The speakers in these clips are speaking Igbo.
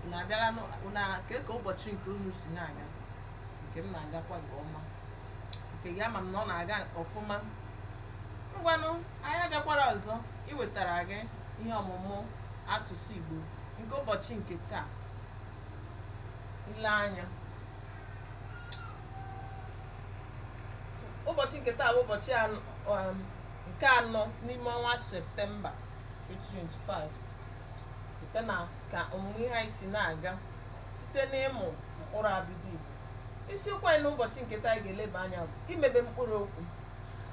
unu abịala nụ- unu a- kee ka ụbọchị nke unu si na-aga nke m na-agakwa nke ọma nke gị ama m na ọ na-aga ọfụma ngwanụ anyị abịakwara ọzọ iwetara gị ihe ọmụmụ asụsụ Igbo nke ụbọchị nke taa ile anya ụbọchị nke taa bụ ụbọchị anọ- um, nke anọ n'ime ọnwa septemba 2025 site na ka ọmụmụ ihe anyị si na-aga site n'ịmụ mkpụrụ abịdị Igbo isiokwu anyị n'ụbọchị nke taa anyị ga-eleba anya bụ imebe mkpụrụ okwu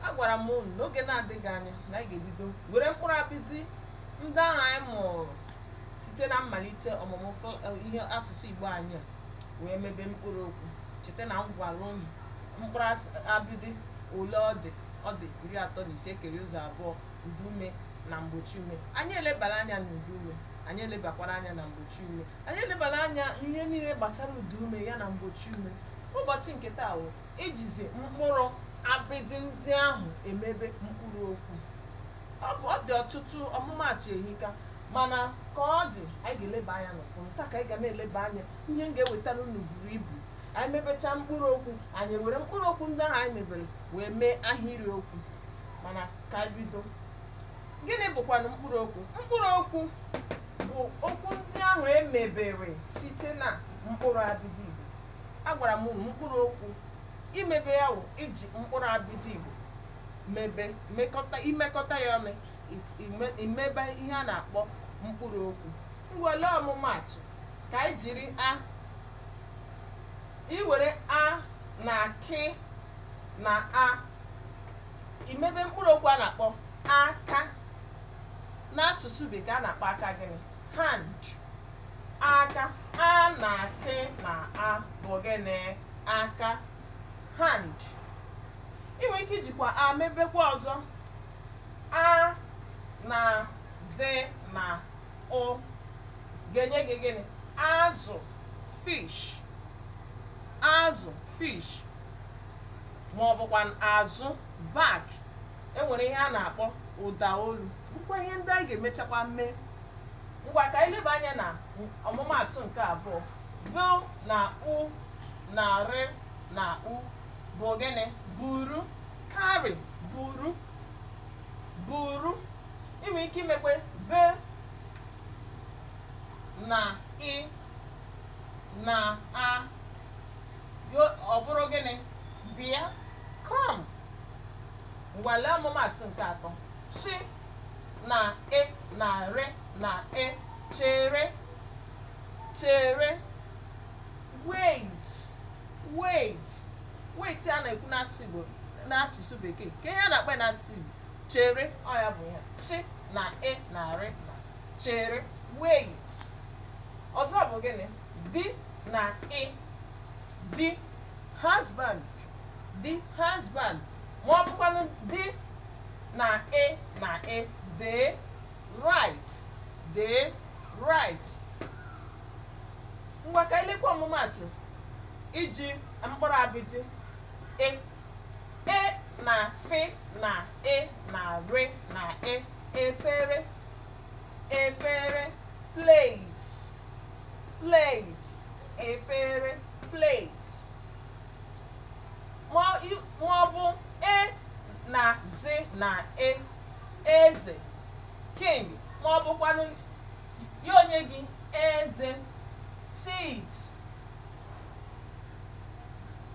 agwara m unu n'oge na-adịghị anya na anyị ga-ebido were mkpụrụ abịdị ndị ahụ anyị mụrụ site na mmalite ọmụmụ kl- eh, ihe asụsụ Igbo anyị a wee mebe mkpụrụ okwu cheta na m gwara unu mkpụrụ as- abịdị ole ọ dị ọ dị iri atọ na ise kere ụzọ abụọ ụdaume na mgbochi ume anyị elebala anya na ụdaume anyị elebakwara anya na mgbochi ume anyị elebala anya ihe niile gbasara ụdaume ya na mgbochi ume ụbọchị nke taa wụ ijizi mkpụrụ abịdị ndị ahụ emebe mkpụrụ okwu ọ bụ ọ dị ọtụtụ ọmụmaatụ ehika mana ka ọ dị anyị ga-eleba anya n'ụfọdụ taa ka anyị ga na-eleba anya ihe m ga-ewetara unu buru ibu anyị mebechaa mkpụrụ okwu anyị were mkpụrụ okwu ndị ahụ anyị mebere wee mee ahịrị okwu mana ka anyị bido gịnị bụkwanụ mkpụrụ okwu mkpụrụ okwu bụ okwu ndị ahụ e mebere site na mkpụrụ abịdị igbo agwara m unu mkpụrụ okwu imebe ya wụ iji mkpụrụ abịdị igbo mebe mekọta imekọta ya ọnụ if- ime- imebe ihe a na-akpọ mkpụrụ okwu ngwa lee ọmụmaatụ ka anyị jiri a iwere a na k na a imebe mkpụrụ okwu a na-akpọ aka n'asụsụ bekee a na-akpọ aka gịnị hand aka a na k na a bụ gịnị aka hand i nwere ike ijikwa a mebekwa ọzọ a na z na ụ ga-enye gị gịnị azụ fish azụ fish ma ọ bụkwa azụ back e nwere ihe a na-akpọ ụda olu bụkwa ihe ndị anyị ga-emechakwa mee ngwa ka anyị leba anya na ọmụmaatụ nke abụọ b na u na r na u bụ gịnị buru carry buru buru i nwere ike imekwe b na ị na a Yo- ọ bụrụ gịnị bịa come ngwa lee ọmụmaatụ nke atọ chi na e na re na e chere chere wait wait wait a na-ekwu n'asụsụ bekee ka ihe a na-akpọ ya n'asụsụ Igbo chere ọ ya bụ ya chi na e na re na chere wait ọzọ bụ gịnị di na i di husband di husband ma ọ bụkwanụ di na e na e dee write dee write ngwa ka e lekwa ọmụmaatụ iji mkpụrụ abịdị e e na fị na e na rị na e efere efere plate plate efere plate ma ọ bụ e na zi na e eze king ma ọ bụkwanụ ya enye gị eze teeth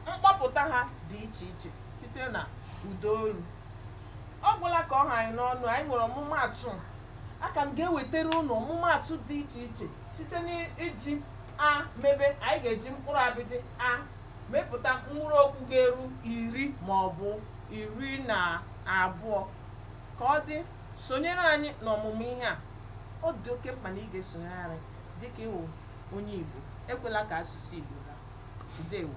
mkpọpụta ha dị iche iche site na ụda olu ọ gwụla ka ọ ha anyị n'ọnụ anyị nwere ọmụmaatụ a ka m ga-ewetara unu ọmụmaatụ dị iche iche site n'iji a mebe anyị ga-eji mkpụrụ abịdị a mepụta mkpụrụ okwu ga-eru iri ma ọ bụ iri na abụọ ka ọ dị sonyere anyị n'ọmụmụ ihe a ọ dị oke mkpa na ị ga-esonyere anyị dịka ị wụ onye Igbo ekwela ka asụsụ Igbo daa ndewo